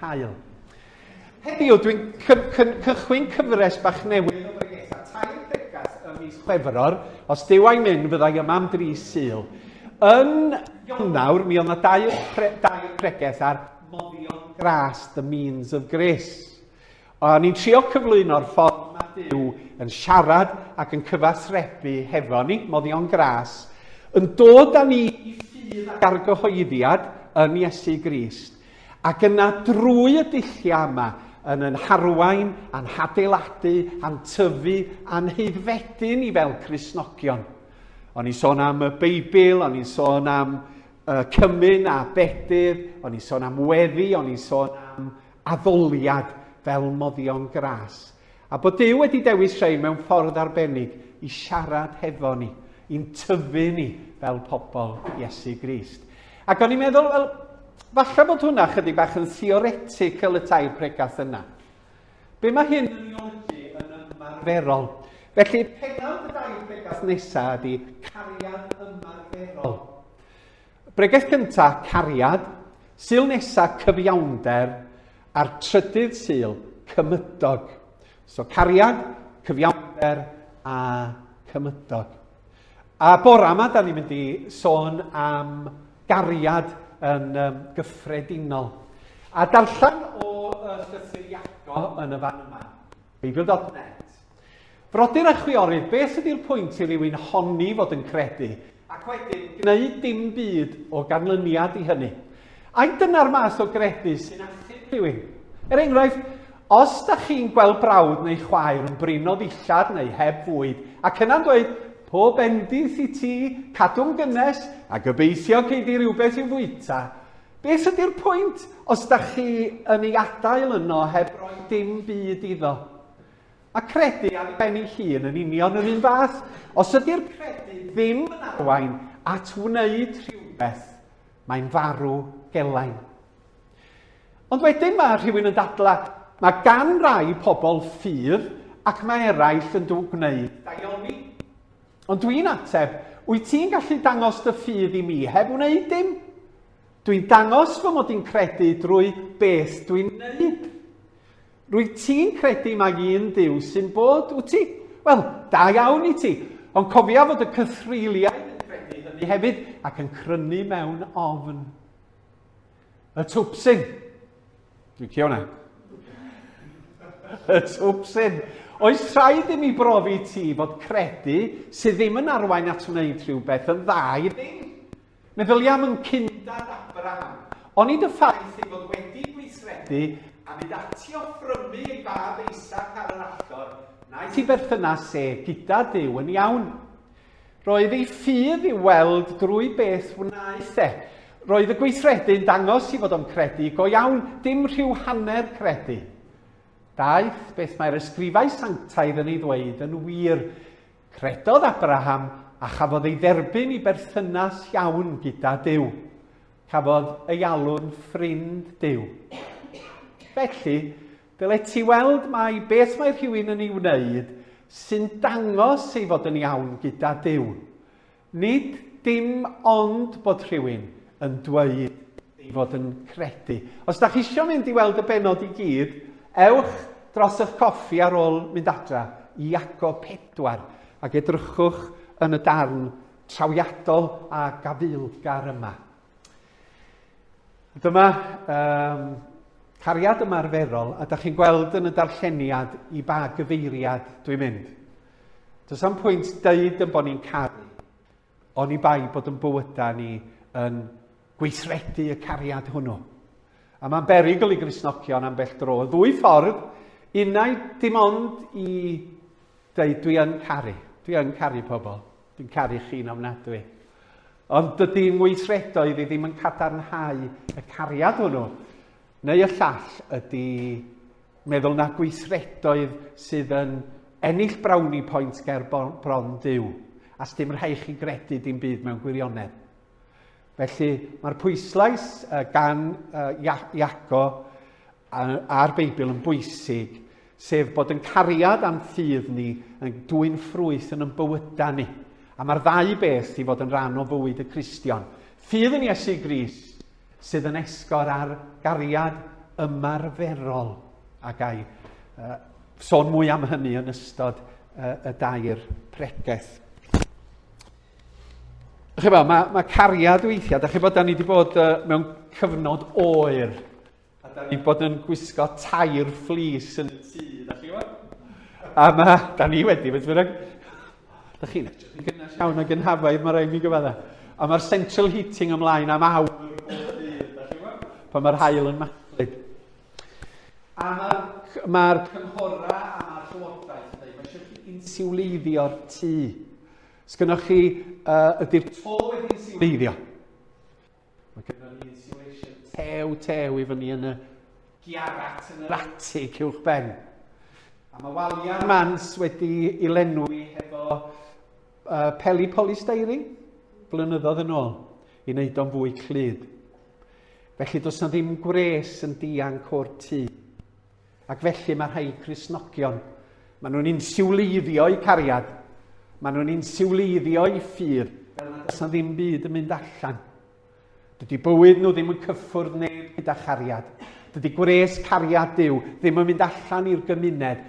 hael. Heddiw, dwi'n cychwyn cyfres bach newydd o bregethau tair bregas ym mis Chwefror. Os dyw a'i mynd, fyddai yma am dri syl. Yn Ionawr, mi oedd yna dair, pre, dair pregeth ar moddion gras, the means of grace. O'n i'n trio cyflwyno'r ffordd mae Duw yn siarad ac yn cyfathrebu hefo ni, moddion gras, yn dod â ni i ffydd ac argyhoeddiad yn Iesu Grist, ac yna drwy y dulliau yma, yn yn harwain, a'n hadeiladu, a'n tyfu, a'n haeddfedu ni fel Cristnogion. O'n i'n sôn am y Beibl, o'n i'n sôn am uh, cymun a bedydd, o'n i'n sôn am weddi, o'n i'n sôn am addoliad fel moddion gras, a bod Duw wedi dewis rhei mewn ffordd arbennig i siarad hefo ni, i'n tyfu ni fel pobl Iesu Grist. Ac o'n i'n meddwl, wel, falle bod hwnna chydig bach yn theoretical y tair pregast yna. Be mae hyn yn ei olygu yn ymarferol? Felly, penawd y dair pregast nesaf ydy cariad ymarferol. Bregeth cynta, cariad, Sul nesa, cyfiawnder, a'r trydydd Sul, cymydog. So cariad, cyfiawnder a cymydog. A bore yma, da ni'n mynd i sôn am gariad yn um, gyffredinol. A darllen o uh, llythyr Iago yn y fan yma, beibl.net. Frodyr a chwiorydd, beth ydy'r pwynt i rywun honni fod yn credu, ac wedyn gwneud dim byd o ganlyniad i hynny? Ai dyna'r math o gredu sy'n achub rhywun? Er enghraifft, os da chi'n gweld brawd neu chwaer yn brino ddillad neu heb fwyd, ac yna'n dweud, pob bendith i ti, cadw'n gynnes, a gobeithio gei di rhywbeth i'w fwyta, beth ydy'r pwynt os da chi yn ei adael yno heb roi dim byd iddo? Mae credu ar ben ei hun yn union yr un fath. Os ydy'r credu ddim yn arwain at wneud rhywbeth, mae'n farw gelain. Ond wedyn mae rhywun yn dadlau, mae gan rai pobl ffydd ac mae eraill yn dw gwneud daioni. Ond dwi'n ateb, wyt ti'n gallu dangos dy ffydd i mi heb wneud dim? Dwi'n dangos fy mod i'n credu drwy beth dwi'n wneud. Rwyt ti'n credu mai un Duw sy'n bod, wyt ti? Wel, da iawn i ti. Ond cofia fod y cythreuliaid yn credu hynny hefyd ac yn crynu mewn ofn. Y twpsyn. Dwi'n cio hwnna. Y twpsyn. Oes rhaid i mi brofi ti fod credu sydd ddim yn arwain at wneud rhywbeth yn dda i ddim? Meddylia am fy nghyn-dad Abraham. Onid y ffaith ei fod wedi gweithredu a mynd ati i offrymu ei fab Isaac ar yr allor wnaeth ei berthynas e gyda Duw yn iawn? Roedd ei ffydd i'w weld drwy beth wnaeth e. Roedd y gweithredu yn dangos ei fod o'n credu, go iawn, dim rhyw hanner credu. Daeth beth mae'r ysgrifau sanctaidd yn ei ddweud yn wir, Credodd Abraham a chafodd ei dderbyn i berthynas iawn gyda Duw. Cafodd ei alw'n ffrind Duw. Felly, dyle ti weld mai beth mae rhywun yn ei wneud sy'n dangos ei fod yn iawn gyda Duw. Nid dim ond bod rhywun yn dweud ei fod yn credu. Os da chi eisiau mynd i weld y benod i gyd, ewch dros eich coffi ar ôl mynd adra i Iacob 4 ac edrychwch yn y darn trawiadol a gafaelgar yma. Dyma um, cariad ymarferol, a da chi'n gweld yn y darlleniad i ba gyfeiriad dwi'n mynd. Does am pwynt dweud yn bod ni'n caru, oni bai bod yn bywydau ni yn gweithredu y cariad hwnnw. A mae'n berigl i grisnogion ambell dro. Y ddwy ffordd, unau dim ond i dweud dwi yn caru, dwi yn caru pobl, dwi'n caru chi'n ofnadwy. Ond dydy ngweithredoedd i ddim yn cadarnhau y cariad hwnnw. Neu y llall ydi meddwl na gweithredoedd sydd yn ennill brownie points ger bron Duw, a sdim rhai chi gredu dim byd mewn gwirionedd. Felly mae'r pwyslais gan Iaco a'r Beibl yn bwysig, sef bod yn cariad a'n ffydd ni yn dwy'n ffrwyth yn yn bywydau ni. A mae'r ddau beth i fod yn rhan o fywyd y Cristion. Ffydd yn Iesu Gris sydd yn esgor ar gariad ymarferol a gai uh, sôn mwy am hynny yn ystod uh, y dair pregeth. Chi'n meddwl, mae, mae cariad weithiau, da chi'n bod, da ni wedi bod uh, mewn cyfnod oer, a da ni wedi bod yn gwisgo tair fflis yn y tŷ, da chi'n bod? A mae, da ni wedi, beth bynnag, Dych chi'n edrych yn gynnes iawn ag yn hafaidd, mae rhaid mi gyfadda. A mae'r central heating ymlaen am awr. Pan mae'r hael yn mathlu. A mae'r ma cynghorau a mae'r llywodraeth yn dweud, mae eisiau chi insiwleiddio'r tŷ. Sgynnoch chi, uh, ydy'r to wedi insiwleiddio? Mae gyda ni insulation tew tew i fyny yn y giarat yn yr atig uwch ben. A mae waliau'r mans wedi i lenwi hefo uh, peli polystyrene blynyddoedd yn ôl i wneud o'n fwy clyd. Felly does na ddim gwres yn dianc o'r tŷ. Ac felly mae rhai Cristnogion, maen nhw'n insiwleiddio eu cariad, maen nhw'n insiwleiddio eu ffydd, fel nad oes ddim byd yn mynd allan. Dydy bywyd nhw ddim yn cyffwrdd neb gyda chariad. Dydy gwres cariad Dyw ddim yn mynd allan i'r gymuned.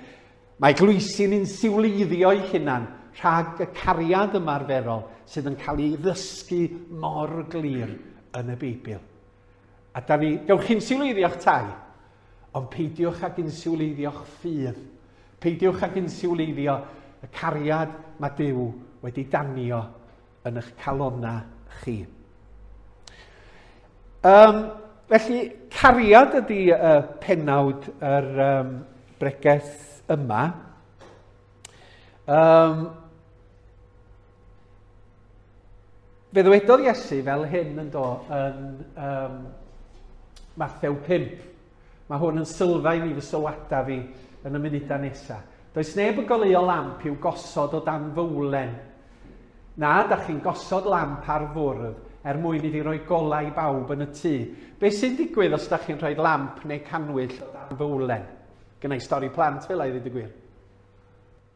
Mae glwysi'n insiwleiddio ei hunan rhag y cariad ymarferol sydd yn cael ei ddysgu mor glir yn y Beibl. A da ni, dewch insiwleiddio'ch tai, ond peidiwch ag insiwleiddio'ch ffydd. Peidiwch ag insiwleiddio y cariad mae Duw wedi danio yn eich calonau chi. Um, felly, cariad ydy uh, penawd yr um, breges yma. Um, Fe ddywedodd Iesu fel hyn yn do yn um, Mathew 5. Mae hwn yn sylfaen i fy sylwadau fi yn y munudau nesaf. Does neb yn goleuo lamp i'w gosod o dan fywlen. Na, da chi'n gosod lamp ar fwrdd er mwyn iddi roi golau i bawb yn y tŷ. Be sy'n digwydd os da chi'n rhoi lamp neu canwyll o dan fywlen? Gynnau stori plant fel a'i ddweud y gwir.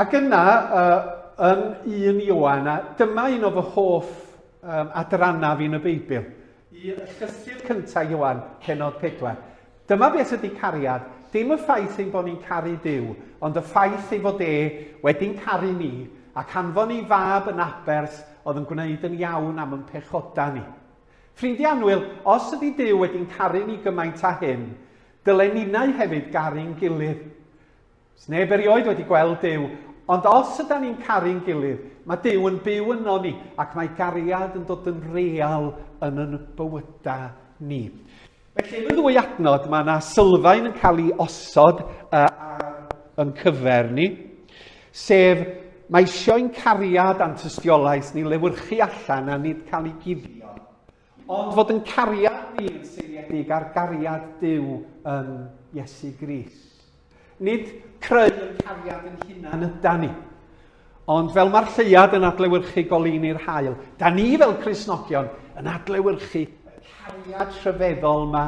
Ac yna, yn un Ioan, a dyma un o fy hoff um, adrannaf yn y Beibl, i llythyr cyntaf Ioan, penod 4. Dyma beth ydy cariad, dim y ffaith ein bod ni'n caru Dyw, ond y ffaith ei fod e wedi'n caru ni ac anfon ei fab yn abers oedd yn gwneud yn iawn am yn pechoda ni. Ffrindiau anwyl, os ydy Dyw wedi'n caru ni gymaint a hyn, dylen ninnau hefyd garu'n gilydd. Does neb erioed wedi gweld Duw, ond os yda ni'n caru'n gilydd, mae Duw yn byw yno ni ac mae gariad yn dod yn real yn yn bywydau ni. Felly, yn y ddwy adnod, mae yna sylfaen yn cael ei osod uh, yn cyfer ni, sef mae eisiau ein cariad a'n tystiolaeth ni lewyrchu allan a nid cael ei guddio. Ond fod yn cariad ni yn seiliedig ar gariad Duw yn Iesu Gris. Nid creu yn cariad yn hunan yda ni. Ond fel mae'r lleiad yn adlewyrchu goleuni'r hael, da ni fel Cresnogion yn adlewyrchu y cariad rhyfeddol yma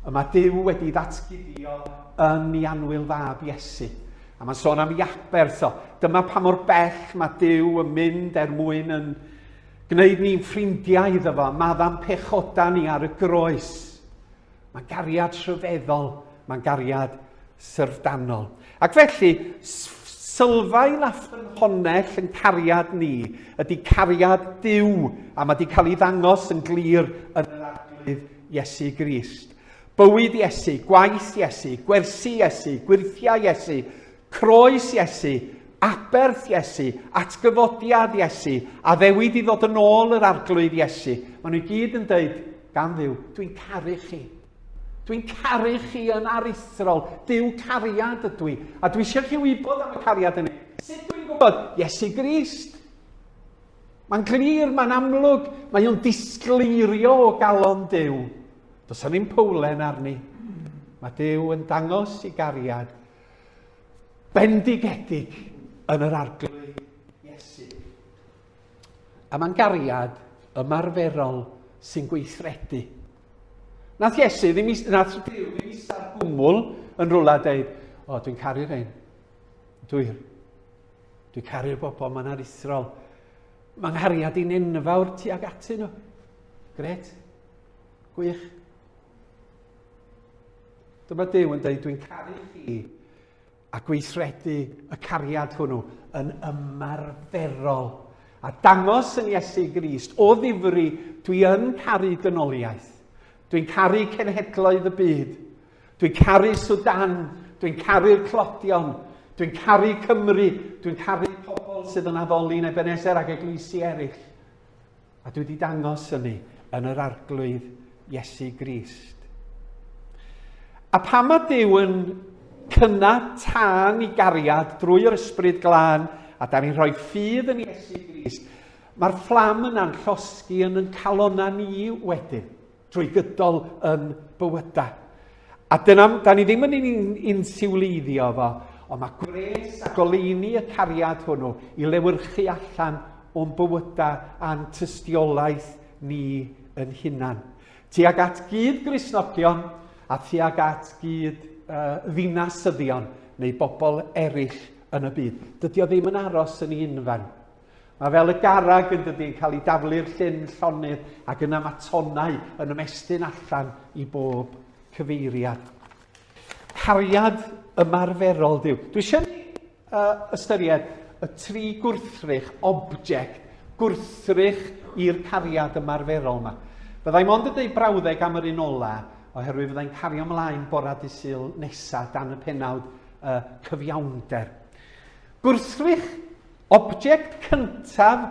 y mae Dyw wedi ddatguddio yn ei anwyl fab Iesu. A mae'n sôn am Iaberth o. Dyma pa mor bell mae Dyw yn mynd er mwyn yn Gwneud ni'n ffrindiau iddo fo, madda'n pechoda ni ar y groes. Mae'n gariad rhyfeddol, mae'n gariad syrfdanol. Ac felly, sylfaen na ffynhonnell yn cariad ni ydy cariad Duw, a mae wedi cael ei ddangos yn glir yn yr arglwydd Iesu Grist. Bywyd Iesu, gwaith Iesu, gwersi Iesu, gwirthiau Iesu, Croes Iesu, aberth Iesu, atgyfodiad Iesu, addewid i ddod yn ôl yr arglwydd Iesu. Maen nhw gyd yn dweud, gan ddiw, dwi'n caru chi. Dwi'n caru chi yn aruthrol. Dyw cariad ydw i. A dwi eisiau chi wybod am y cariad yn ei. Sut dwi'n gwybod? Iesu Grist. Mae'n glir, mae'n amlwg, mae o'n disgleirio o galon Dyw. Does yna ddim powlen arni. Mae Dyw yn dangos i gariad bendigedig yn yr arglwydd Iesu. A mae'n gariad ymarferol sy'n gweithredu. Nath Iesu ddim i, nath Dyw ddim i star gwmwl yn rhywle dweud, o, dwi'n caru rhain. Dwi'n, dwi'n caru'r bobl, mae'n arithrol. Mae'n nghariad i'n enfawr tu ag atyn nhw. Gret. Gwych. Dyma Duw yn dweud, dwi'n caru chi, a gweithredu y cariad hwnnw yn ymarferol. A dangos yn Iesu Grist, o ddifri, dwi yn caru dynoliaeth. Dwi'n caru cenhedloedd y byd. Dwi'n caru Sudan. Dwi'n caru'r clodion. Dwi'n caru Cymru. Dwi'n caru pobl sydd yn addoli yn Ebenezer ac eglwysi eraill. A dwi wedi dangos hynny yn yr arglwydd Iesu Grist. A pam mae Dyw yn cynna tân i gariad drwy yr ysbryd glân, a da ni'n rhoi ffydd yn Iesu Grist, mae'r fflam yna'n llosgi yn yn calonna ni wedyn. drwy gydol yn bywydau. A dyna, da ni ddim yn un siwleiddio fo, ond mae gwres a goleini y cariad hwnnw i lewyrchu allan o'n bywydau a'n tystiolaeth ni yn hunan. Tuag at gyd grisnogion a tuag at gyd uh, ddinasyddion neu bobl eraill yn y byd. Dydy o ddim yn aros yn ei unfen. Mae fel y garreg yn dydy yn cael ei daflu'r llyn llonydd ac yna mae tonnau yn ymestyn allan i bob cyfeiriad. Cariad ymarferol Dyw. Dwi eisiau ni uh, ystyried y tri gwrthrych object gwrthrych i'r cariad ymarferol yma. Byddai mond yn dweud brawddeg am yr un ola, oherwydd fyddai'n cario ymlaen bora dysil nesaf dan y penawd uh, cyfiawnder. Gwrthrych Object cyntaf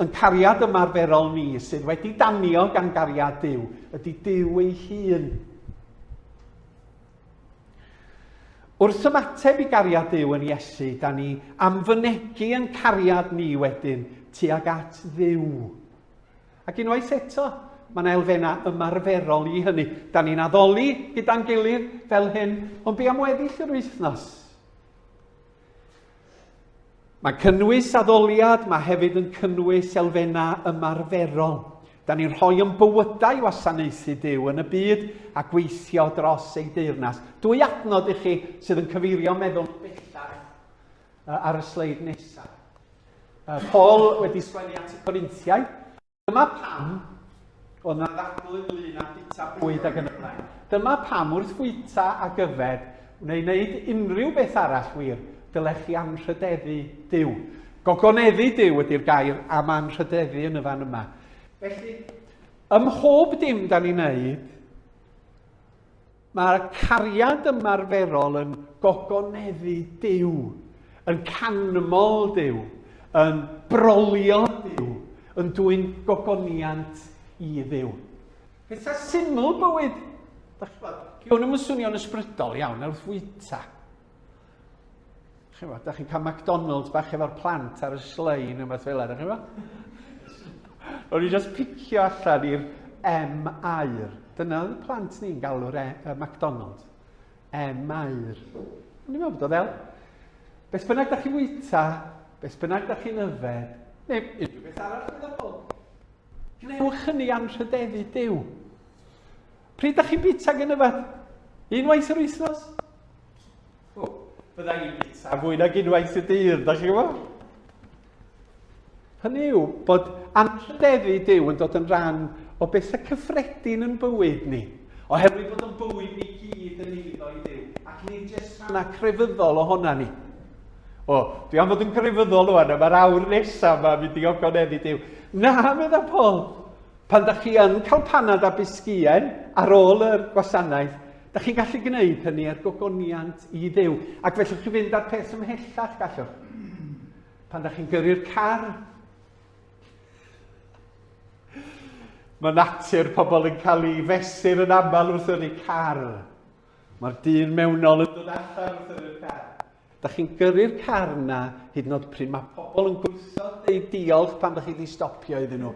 yn cariad ymarferol ni sydd wedi danio gan gariad Duw ydy Duw ei hun. Wrth ymateb i gariad Duw yn Iesu, da ni am fynegu yn cariad ni wedyn tuag at Dduw. Ac unwaith eto, Mae yna elfennau ymarferol i hynny. Da ni'n addoli gyda'n gilydd fel hyn, ond be am weddill yr wythnos? Mae'n cynnwys addoliad, mae hefyd yn cynnwys elfennau ymarferol. Da ni'n rhoi yn bywydau i wasanaethu Dyw yn y byd a gweithio dros ei deyrnas. Dwy adnod i chi sydd yn cyfeirio meddwl bellach ar y sleid nesaf. Paul wedi sgwennu at y Corinthiau, Dyma pam oedd yna ddadl ynglŷn â bwyta bwyd ac yn y blaen. Dyma pam wrth fwyta ag yfed, neu wneud unrhyw beth arall wir, dylech chi anrhydeddu Duw. Gogoneddu Duw ydy'r gair am anrhydeddu yn y fan yma. Felly, ym mhob dim da ni'n wneud, Mae'r cariad ymarferol yn gogoneddu Duw, yn canmol Duw, yn brolio Duw, yn dwyn gogoniant i Dduw. Pethau syml bywyd, da chi bod, gwn i'm yn swnio'n ysbrydol iawn, ar wrth fwyta. Chi'n gwybod, da chi'n cael McDonald's bach efo'r plant ar y slein neu beth fel yna, chi'n gwybod? O'n i just picio allan i'r M air. Dyna oedd y plant ni'n galw'r e, uh, McDonald's. M air. O'n i'n meddwl bod o fel. Beth bynnag da chi'n wyta, beth bynnag da chi'n yfed, neu unrhyw beth arall meddwl. Gwnewch hynny anrhydeddu Dyw. Pryd da chi'n bita gen y fat? Unwaith yr wythnos? O, bydda i'n bita a fwy nag unwaith y dydd, da chi'n gwybod? Hynny yw bod anrhydeddu Dyw yn dod yn rhan o bethau cyffredin yn bywyd ni. Oherwydd bod yn bywyd ni gyd yn eiddo i Dyw, ac nid jyst rhan crefyddol ohona ni. O, dwi am fod yn grefyddol o'n yma, mae'r awr nesaf yma, mynd i ogoneddi Dyw. Na, meddwl Paul, Pan da chi yn cael panad a bisgïau ar ôl yr gwasanaeth, da chi'n gallu gwneud hynny er gogoniant i ddew. Ac felly chi fynd â'r peth ymhellach gallwch. Pan da chi'n gyrru'r car, Mae natur pobl yn cael ei fesur yn aml wrth yr car. Mae'r dyn mewnol yn dod allan wrth yr car. Dach chi'n gyrru'r car yna hyd yn oed pryd mae pobl yn gweithio deud diolch pan dach chi wedi stopio iddyn nhw.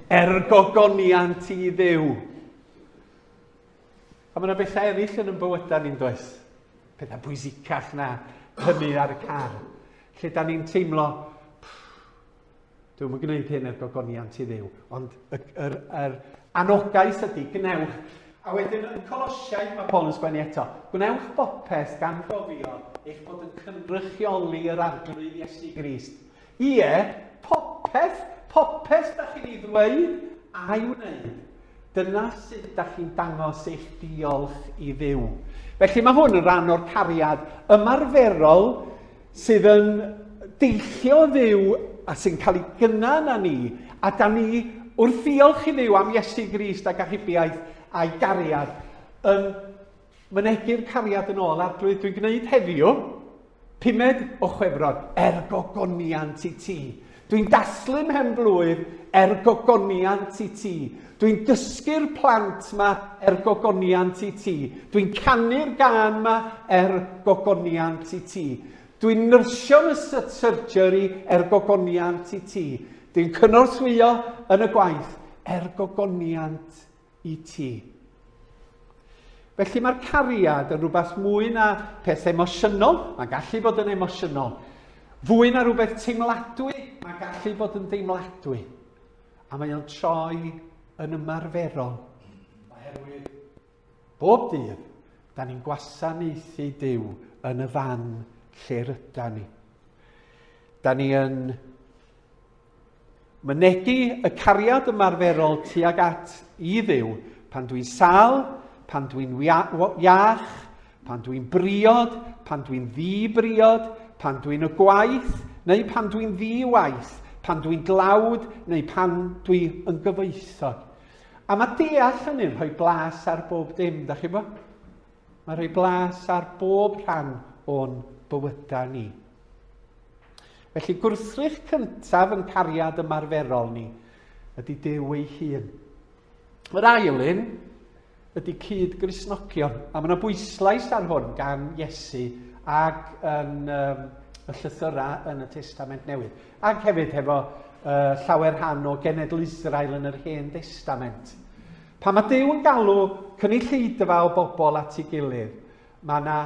Er gogoniant i ddew. A mae yna bethau eraill yn yn bywydau ni'n does. Pethau pwysicach na hynny ar y car. Lle da ni'n teimlo, Dwi'm yn gwneud hyn er gogoniant i ddiw, ond y, yr, yr anogaeth ydy, gwnewch. A wedyn yn Colosiaid mae Paul yn sgwennu eto, gwnewch bopeth gan gofio eich bod yn cynrychioli yr arglwydd Iesu Grist. Ie, popeth, popeth da chi'n ei ddweud a'i wneud. Dyna sut da chi'n dangos eich diolch i ddiw. Felly mae hwn yn rhan o'r cariad ymarferol sydd yn deillio o Dduw a sy'n cael ei gynnau yna ni, a da ni wrth ddiolch i Dduw am Iesu Grist ac achubiaeth a'i gariad, yn mynegu'r cariad yn ôl arglwydd dwi'n gwneud heddiw, pumed o chwefror, er gogoniant i ti. Dwi'n dathlu mhen-blwydd er gogoniant i ti. Dwi'n dysgu'r plant 'ma er gogoniant i ti. Dwi'n canu'r gân 'ma er gogoniant i ti. Dwi'n nyrsio yn y surgery er gogoniant i ti. Dwi'n cynorthwyo yn y gwaith er gogoniant i ti. Felly mae'r cariad yn rhywbeth mwy na peth emosiynol, mae'n gallu bod yn emosiynol. Fwy na rhywbeth teimladwy, mae'n gallu bod yn deimladwy. A mae o'n troi yn ymarferol. Oherwydd bob dydd, da ni'n gwasanaethu Dyw yn y fan lle ryda ni. Da ni yn Mynegi y cariad ymarferol tuag at i Dduw, pan dwi'n sal, pan dwi'n iach, pan dwi'n briod, pan dwi'n ddi-briod, pan dwi'n y gwaith, neu pan dwi'n ddi-waith, pan dwi'n dlawd, neu pan dwi yn gyfoethog. A mae deall hynny'n rhoi blas ar bob dim, da chi bo? Mae rhoi blas ar bob rhan o'n bywydau ni. Felly gwrthrych cyntaf yn cariad ymarferol ni ydy Duw ei hun. Yr ail un ydy cyd grisnogion, a mae yna bwyslais ar hwn gan Iesu ag yn um, y llythyrau yn y Testament Newydd, ac hefyd hefo uh, llawer rhan o genedl Israel yn yr Hen Testament. Pan mae Duw yn galw cynulleidfa o bobl at ei gilydd, mae yna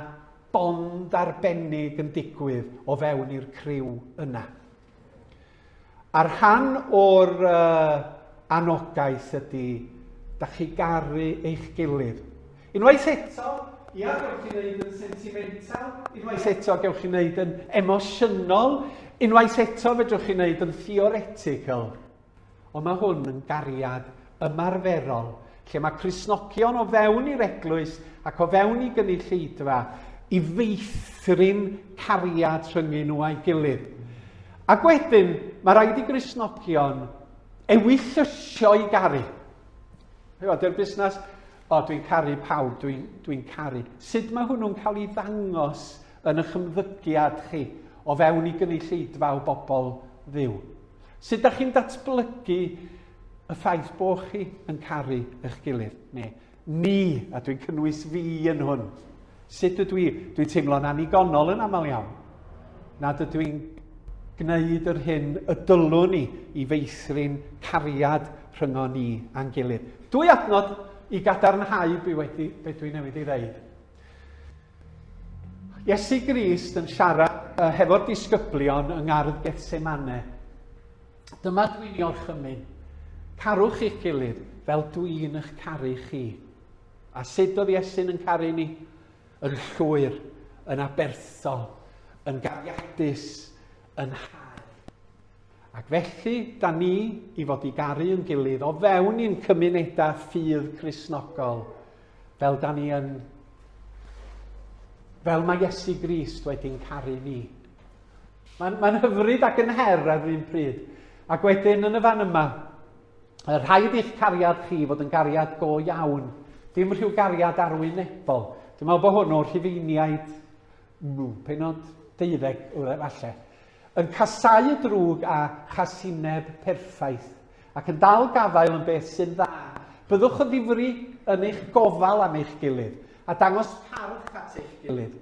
bond arbennig yn digwydd o fewn i'r criw yna. A rhan o'r uh, anogaeth ydy, da chi garu eich gilydd. Unwaith eto, ia, gewch chi wneud yn sentimental, unwaith eto gewch chi wneud yn emosiynol, unwaith eto fedrwch chi wneud yn theoretical. Ond mae hwn yn gariad ymarferol, lle mae Cristnogion o fewn i'r eglwys ac o fewn i gynulleidfa i feithrin cariad rhyngyn nhw a'i gilydd. Ac wedyn, mae rhaid i Gristnogion ewyllysio i garu. Dy'r busnes, o dwi'n caru pawb, dwi'n dwi, caru. Sut mae hwnnw'n cael ei ddangos yn eich ymddygiad chi o fewn i gynulleidfa o bobl ddiw? Sut da chi'n datblygu y ffaith bo chi yn caru eich gilydd? Neu ni, a dwi'n cynnwys fi yn hwn. Sut ydw i? Dwi'n teimlo'n annigonol yn aml iawn. Nad ydw i'n gwneud yr hyn y dylwn ni i feithrin cariad rhyngo ni a'n gilydd. Dwy adnod i gadarnhau be wedi be dwi newydd ei ddeud. Iesu Grist yn siarad uh, hefo'r disgyblion yng ngardd Gethsemane. Dyma dwi'n i orchymyn. Carwch i'ch gilydd fel dwi'n eich caru chi. A sut oedd Iesu'n yn caru ni? Yn llwyr, yn aberthol, yn gariadus, yn hau. Ac felly, da ni i fod i garu yn gilydd o fewn i'n cymunedau ffydd Cresnogol, Fel da ni yn... Fel mae Iesu Grist wedi'n caru ni. Mae'n mae hyfryd ac yn her ar yr un pryd. Ac wedyn yn y fan yma, y rhaid i'ch cariad chi fod yn gariad go iawn, dim rhyw gariad arwynebol. Dwi'n meddwl bod hwn o'r rhifeiniaid, penod deuddeg, falle. Yn casáu y drwg a chasineb perffaith, ac yn dal gafael yn beth sy'n dda. Byddwch yn ddifri yn eich gofal am eich gilydd, a dangos parch at eich gilydd.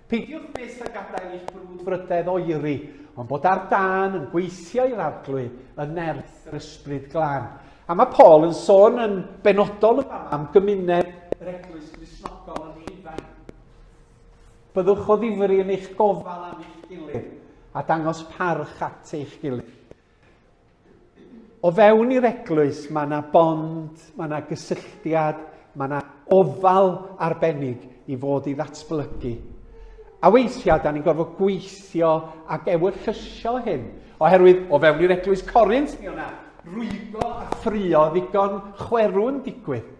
Peidiwch fyth â gadael i'ch brwdfrydedd oeri, ond bod ar dân yn gweithio i'r Arglwydd yn nerth yr Ysbryd Glân. A mae Paul yn sôn yn benodol yn fama am gymuned yr Eglwys Gristnogol yn Rhufain. Byddwch o ddifri yn eich gofal am eich gilydd a dangos parch at eich gilydd. O fewn i'r eglwys, mae yna bond, mae yna gysylltiad, mae yna ofal arbennig i fod i ddatblygu. A weithiau, da ni'n gorfod gweithio ac ewyllysio hyn, oherwydd o fewn i'r eglwys Corint, mi o'na rwygo a ffrio ddigon chwerw'n digwydd.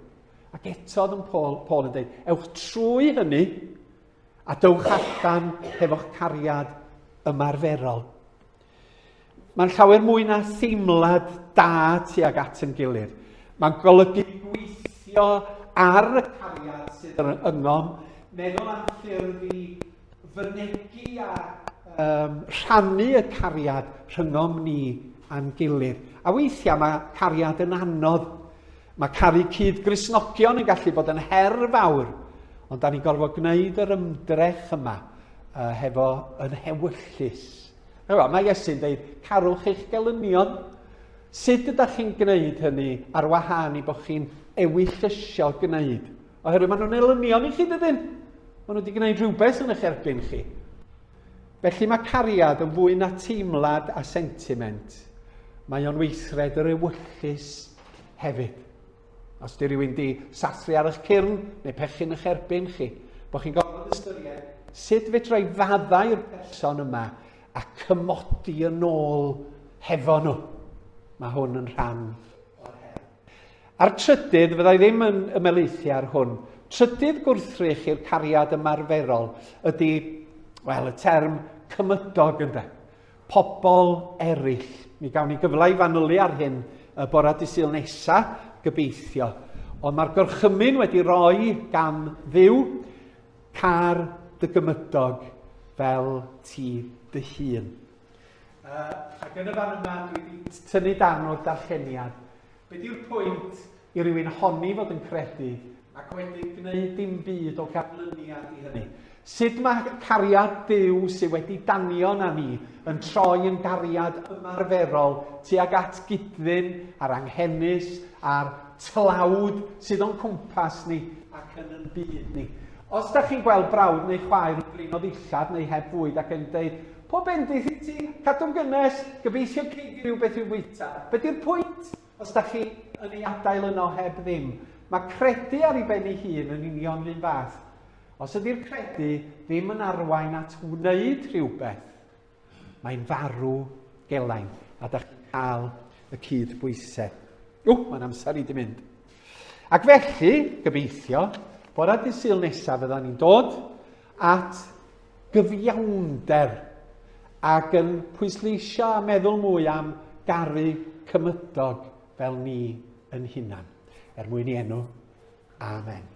Ac eto oedd yn Paul, Paul yn dweud, ewch trwy hynny a dywch allan hefo'ch cariad ymarferol. Mae'n llawer mwy na theimlad da tuag at yn gilydd. Mae'n golygu gweithio ar y cariad sydd yn yngom, meddwl am ffyrdd i fynegi a um, rhannu y cariad rhyngom ni a'n gilydd. A weithiau mae cariad yn anodd. Mae caru cyd grisnogion yn gallu bod yn her fawr, ond da ni'n gorfod gwneud yr ymdrech yma uh, hefo yn hewyllus. Ewa, mae Iesu'n dweud, carwch eich gelynion. Sut ydych chi'n gwneud hynny ar wahân i bod chi'n ewyllysio gwneud Oherwydd maen nhw'n elynion i chi, dydyn? Maen nhw wedi gwneud rhywbeth yn eich erbyn chi. Felly mae cariad yn fwy na teimlad a sentiment. Mae o'n weithred yr ewyllus hefyd. Os di rhywun di sathru ar eich cyrn neu pechu'n eich erbyn chi, bod chi'n gofyn ystyried sut fedra i faddau'r person yma a cymodi yn ôl hefo nhw. Mae hwn yn rhan o'r her. A'r trydydd, fydda i ddim yn ymelaethu ar hwn, trydydd gwrthrych i'r cariad ymarferol ydy, wel, y term cymydog ynde. Pobl eraill. Mi gawn ni gyfle i fanylu ar hyn y bora disyl nesa, gobeithio. Ond mae'r gorchymyn wedi roi gan ddiw car dy gymydog fel ti dy hun. Uh, ac yn y fan yma, dwi wedi tynnu dan o'r darlleniad. Be di'r pwynt i rywun honni fod yn credu ac wedyn gwneud dim byd o ganlyniad i hynny. Sut mae cariad Duw sydd wedi danio na ni yn troi yn gariad ymarferol tuag at gydfyn a'r anghenus a'r tlawd sydd o'n cwmpas ni ac yn yn byd ni. Os da chi'n gweld brawd neu chwaer yn blino ddillad neu heb fwyd ac yn dweud, Pob bendith i ti, cadw'n gynnes, gobeithio gei di rhywbeth i'w fwyta. Be di'r pwynt os da chi yn ei adael yno heb ddim? Mae credu ar ei ben ei hun yn union run fath. Os ydy'r credu ddim yn arwain at wneud rhywbeth, mae'n farw gelain a da chi'n cael y cyd bwysau. O, mae'n amser i di mynd. Ac felly, gobeithio, bora dydd syl nesaf fydda ni'n dod at gyfiawnder ac yn pwysleisio a meddwl mwy am garu cymydog fel ni yn hunan, er mwyn i enw. Amen.